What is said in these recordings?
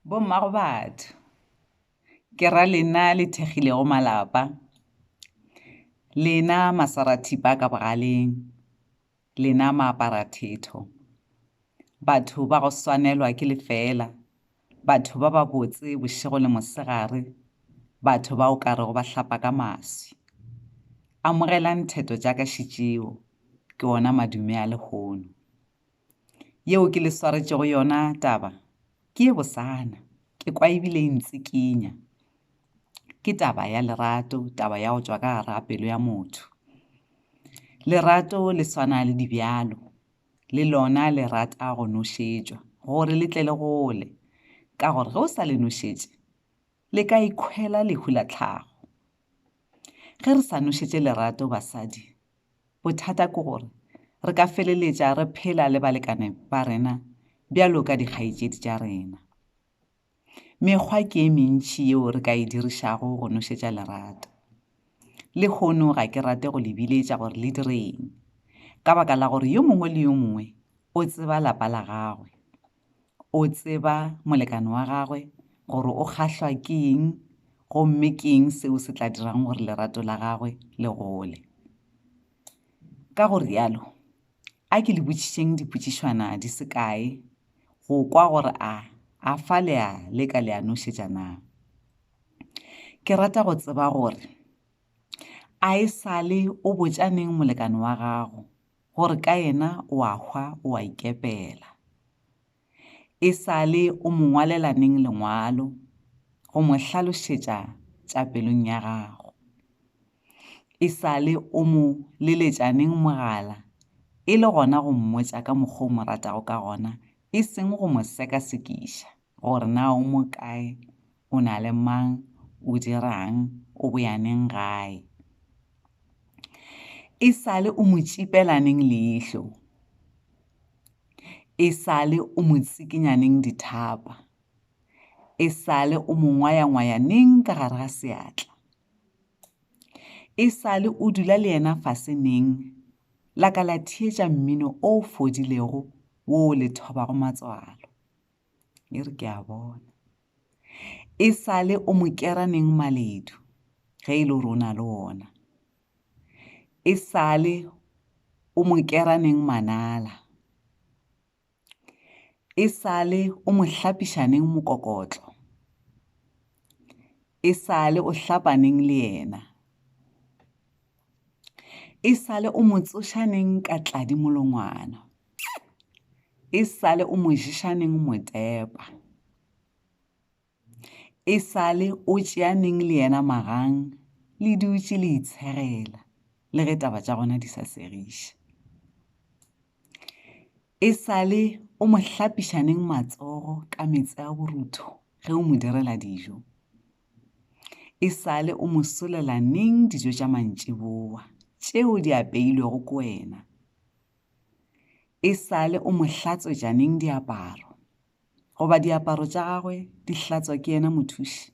Bomma go batho, ke ra lena le thekgilego malapa, lena masarathipa ka bogaleng, lena maaparathetho, batho ba go swanelwa ke lefeela, batho ba babotse bošego le mosegare, batho ba o ka rego ba hlapa ka maswi. Amogelang theto tša ka šetšeo, ke ona madume a lehono. Yeo ke le swaretšego yona taba ke ye bosana. Ke kwa ebile e ntsikinya. Ke taba ya lerato, taba ya go tšwa ka gara pelo ya motho. Lerato le swana le dibjalo. Le lona le rata go nošetšwa gore le tle le gole. Ka gore ge o sa le nošetše, le ka ikhwela lehu la tlhago. Ge re sa nošetše lerato basadi, Bothata ke gore re ka feleletša re phela le balekane ba rena bjalo ka dikgaetšedi tša rena. Mekgwa ke e mentši yeo re ka e dirišago go nošetša lerato. Lehono ga ke rate go le biletša gore le direng, ka baka la gore yo mongwe le yo mongwe o tseba lapa la gagwe. o tseba molekane wa gagwe gore o kgahlwa ke eng gomme ke eng seo se tla dirang gore lerato la gagwe le gole ka go rialo a ke le botšišeng dipotšišwana di se kae go kwa gore a a fa le a le ka le a nošetša na ke rata go tseba gore a e sale o botšaneng molekane wa gago gore ka yena o a hwa o a ikepela. E sa le o mo ngwalela neng lengwalo go mo hlalošetša tša pelong ya gago? E sa le o mo leletša neng mogala e le gona go mmotša ka mokgwa o mo ratago ka gona e seng go mo sekasekiša? Gore na o mo kae, o na le mang, o dira'ng, o boya neng gae. E sa le o mo tšipela neng leihlo, e sa le o mo tsikinya neng dithapa, e sa le o mo ngwaya-ngwaya neng ka gare ga seatla, e sa le o dula le yena fase neng la ka la theetša mmino o fodilego wo o le thobago matswalo. e re ke a bona e sale o mo kera neng maledu ge e le gore o na le ona e sale o mo kera neng manala e sale o mo hlapiša neng mokokotlo e sale o hlapa neng le yena e sale o motsošaneng ka tladi molongwana e sale o moješaneng motepa e sale o tšeaneng le yena magang le dutše le itsherela le ge taba tša gona di sa segiše e sale o mo hlapišaneng matsogo ka metse a borutho ge o mo direla dijo E sale o mo solela neng dijo tša mantšiboa tšeo di apeilwego ke wena? E sale o mo hlatswetša neng diaparo? Goba diaparo tša gagwe di hlatswa ke yena mothuši?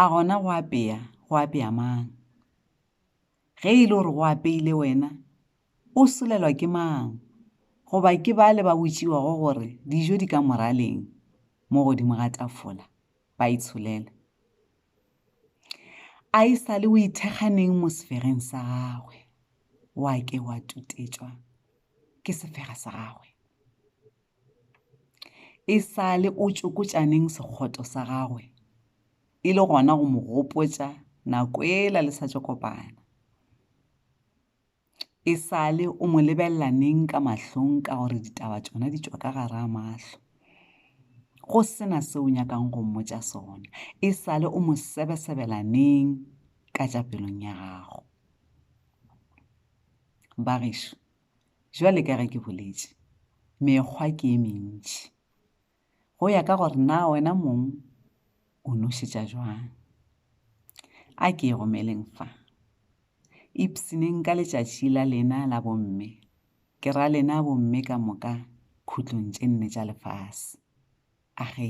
A gona go apea go apea mang? ge e le gore go apeile wena, o solelwa ke mang? Goba ke bale ba botšiwago gore dijo di ka moraleng mo godimo ga tafola, ba itsholele? A e sa le o ithekganeng mo sefegeng sa gagwe, wa ke wa tutetšwa ke sefega sa gagwe? e sa le o tšokotšaneng sekgoto sa gagwe e le gona go mo gopotša nako ela le sa tšo kopana e sa le o mo lebelela neng ka mahlong ka gore ditaba tšona di tšwa ka gara mahlo go sena se o nyakang go mmotša sona e sa le o mo sebesebela neng ka tša pelong ya gago bagešo Bjale ka ge ke boletše, mekgwa ke e mentši. Go ya ka gore na wena mong o nošetša jwang. A ke e romeleng fa. Ipsineng ka letšatši la lena la bomme, ke ra lena bomme ka moka khutlong tše nne tša lefase. A ge.